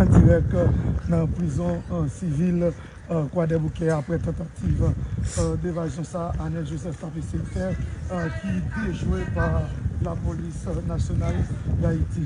An dirèk nan prizon sivil Kwadèboukè aprè tantativ devazyon sa Anel Joseph t ap eseye fè ki dejwe pa lapolis nasyonal Dayiti.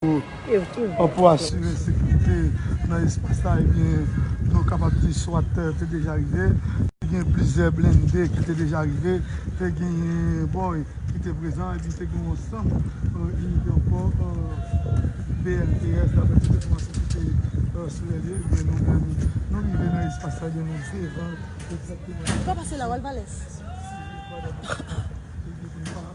Pou asire sekirite nan espas la, nou kapab di swat te deja rive, te gen plizyè blende ki te deja rive, te gen boy ki te prezan epi te gen yon sant inite ankò BLTS daprè tout enfòmasyon ki te sirele ebyen nou menm nou rive nan espas la ebyen nou devan egzakteman espas la.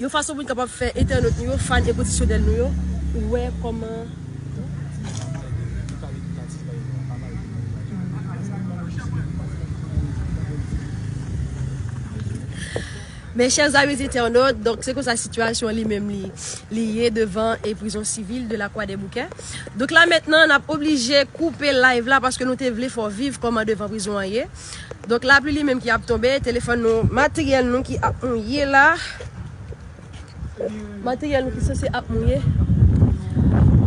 Yon fason pou n kapab fè entènot nou yo, fàn enkondisyonèl nou yo, wè kòman. Mes chers amis internautes, donk se konsa sitiyasyon li menm li li ye devan e prizon sivil de la Croix des Bouquets. Donk la mentnan n ap oblije koupe live la paske nou te vle fè w viv kòman devan prizon an ye. Donk lapli li menm ki ap tonbe, telefòn nou, materyèl nou ki ap mouye la. Materyèl nou ki sanse ap mouye.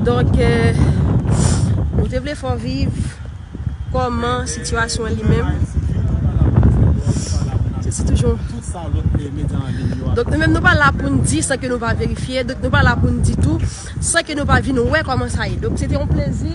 Donk, nou te vle fè w viv kòman sitiyasyon an li menm. Se si toujou. Donk nou menm nou pa la pou n di san ke nou pa verifye, donk nou pa la pou n di tou san ke nou pa vin wè kòman sa ye. Donk se te yon plezi.